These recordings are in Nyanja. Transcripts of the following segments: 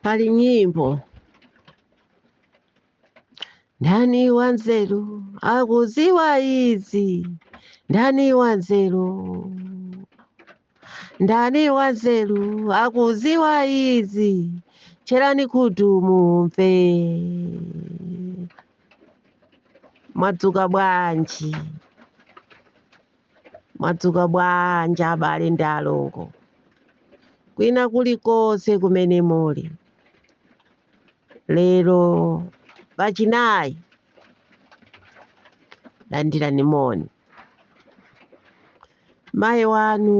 pali nyimbo ndani wanzeru akuziwa izi ndani wanzeru ndani wanzeru akuziwa izi tcherani khutu mumve mwadzuka bwanji Mwadzuka bwanji abale ndi alongo kwina kulikonse kumene muli lero pachinayi landirani moni mayi wanu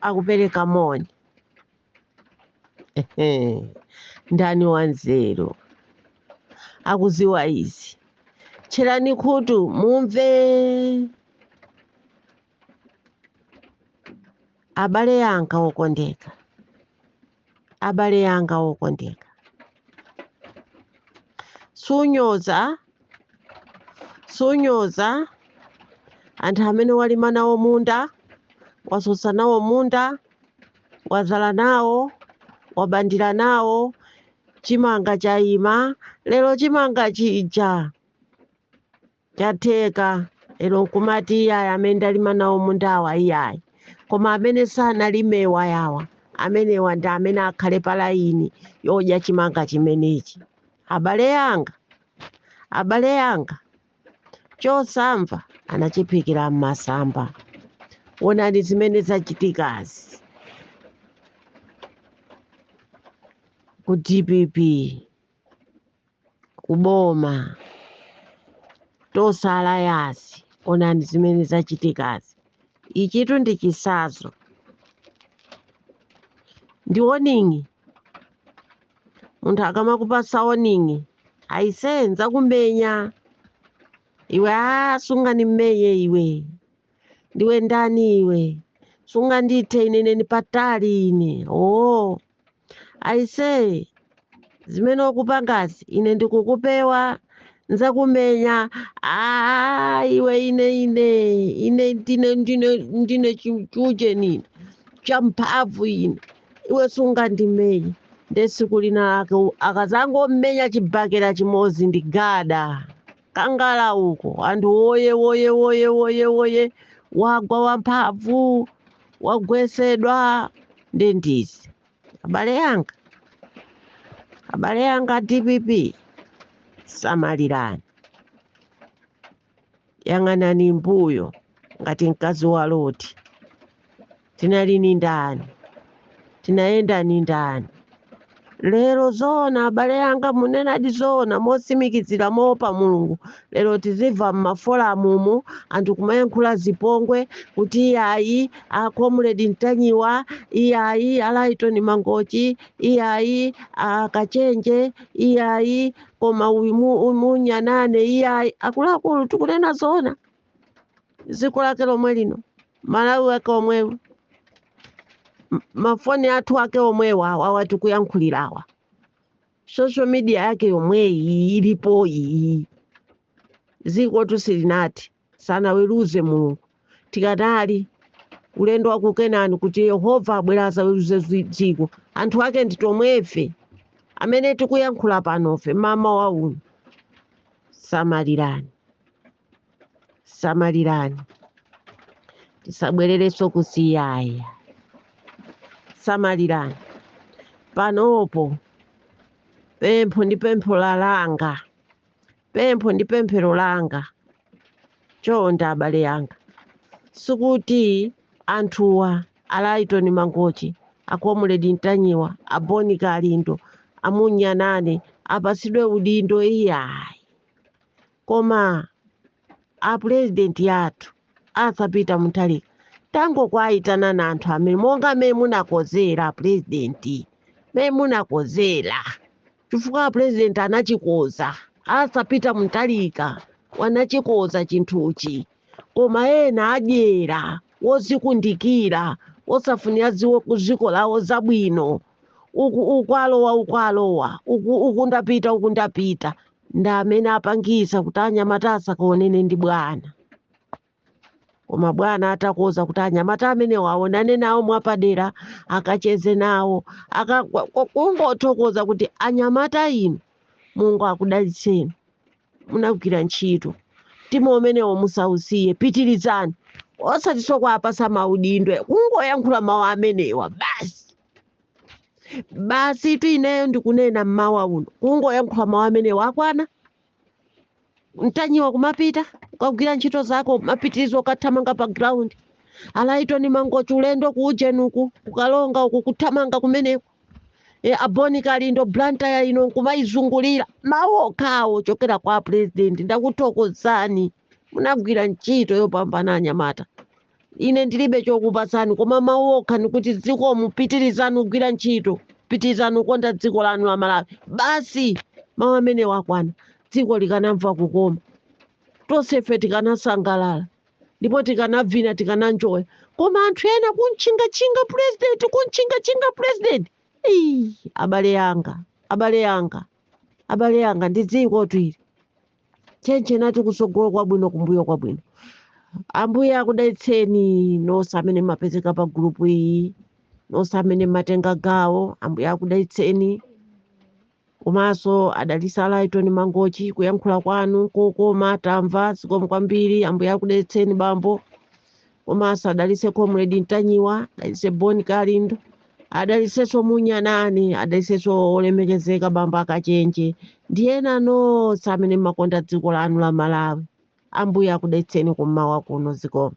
akupereka moni ndani wanzeru akuziwa izi tcherani khutu mumve abale yanga okondeka abale yanga okondeka sunyoza sunyoza anthu amene walima nawo munda wasosa nawo munda wazala nawo wabandira nawo chimanga chayima lero chimanga chija chatheka lero nkumati iyayi amene ndalima nawo mundawa iyayi koma amene sanalimewa yawa amenewa ndi amene akhale palayini yodya chimanga chimenechi abale yanga abale yanga chosamva anachiphikira m'masamba onani zimene zachitikazi ku dpp kuboma tosala yasi onani zimene zachitikazi ichitu ndi chisazo ndi warning munthu akamakupasa warning aise nzakumenya iwe a sungani mmenye iwe ndiwe ndani iwe sunga ndithe ine neni patali ine oo aise zimene ukupangazi ine ndikukupewa nzakumenya a iwe ine ine ine ndine ndine ndine chuje nini champhamvu ine iwe sungandimenye nde tsiku lina lake u- akazangommenya chibakera chimodzi ndi gada, kangala uko anthu woye woye woye woye woye wagwa wamphamvu wagwesedwa ndi ndani abale yanga abale yanga dpp samalirani yang'anani mbuyo ngati mkazi wa loti tinali ni ndani tinayenda ni ndani lero zoona abale yanga munenadi zoona mosimikizira moopa mulungu lero tizimva m'maforum umu anthu kumayankhula zipongwe kuti iyayi a comrade ntanyiwa iyayi a laitoni mangochi iyayi a kachenje iyayi koma uyu mu- uyu munya nane iyayi akuluakulu tikunena zoona dziko lake lomwe lino malawi wake omweyu mafoni athu ake omwewa awa tikuyankhulirawa social media yake yomweyi ilipo iyi dzikotu silinati sanaweruze mulungu tikadali ulendo wa ku kenani kuti yehova abwera azaweruze dziko anthu ake ndife tomwefe amene tikuyankhula panofe mamawa uno samalirani samalirani tisabwererenso kusiyaya samalirani panopo pempho ndi pempho la langa pempho ndi pemphero langa chonde abale anga sikuti anthuwa alaitoni mangochi a comrade mtanyiwa aboni kalindo amunyanane apatsidwe udindo iyayi koma apurezidenti athu asa pita mutharika tangokawayitanani anthu amene monga mmene munakozera apurezidenti mmene munakozera chifukwa apurezidenti anachikoza asa pita mutharika wanachikoza chinthuchi koma ena adyera wozikundikira osafunira dziko lawo zabwino uku alowa uku alowa uku ndapita uku ndapita ndi amene apangisa kuti anyamata asakaonene ndi bwana koma bwana atakoza kuti anyamata amenewo aonane nawo mwapadera akacheze nawo kungothokoza kuti anyamata inu mulungu akudalitseni munagwira ntchito mtima umenewo musausiye pitirizani osatiso kuwapasa maudindo kungoyankhula mawu amenewa basi basitu ineyo ndikunena mmawa uno kungoyankhula mawu amenewa akwana mtanyiwa kumapita ukagwira ntchito zako kumapitiriza ukathamanga pa ground alaitoni mangochi ulendo ku ujeni uku ku karonga uku kuthamanga kumeneko e, aboni kalindo blantaya ino nkumayizungulira mawu okhawo ochokera kwa purezidenti ndakuthokozani munagwira ntchito yopambana anyamata ine ndilibe chokupatsani koma mawu okha ndikuti zikomo pitirizani kugwira ntchito pitirizani kukonda dziko lanu la malawi basi mawu amenewa akwana dziko likanamva kukoma tonsefe tikanasangalala ndipo tikanavina tikananjoya koma anthu ena kumtchingatchinga purezidenti kumtchingatchinga purezidenti Ii, abale yanga abale yanga abale yanga ndi dzikotu ili tchentche nati kutsogolo kwabwino kumbuyo kwabwino ambuye akudalitseni nonse amene mmapezeka pa gulupu iyi nonse amene mmatenga gawo ambuye akudalitseni komanso adalitse a Lighton mangochi kuyankhula kwanu kokoma tamva zikomo kwambiri ambuye akudalitseni bambo komanso adalitse comrade ntanyiwa adalitse bon kalindo adalitsenso munyanani adalitsenso olemekezeka bambo akachenje ndi ena nonse amene mmakonda dziko lanu la malawi ambuye akudalitseni kummawa kuno zikomo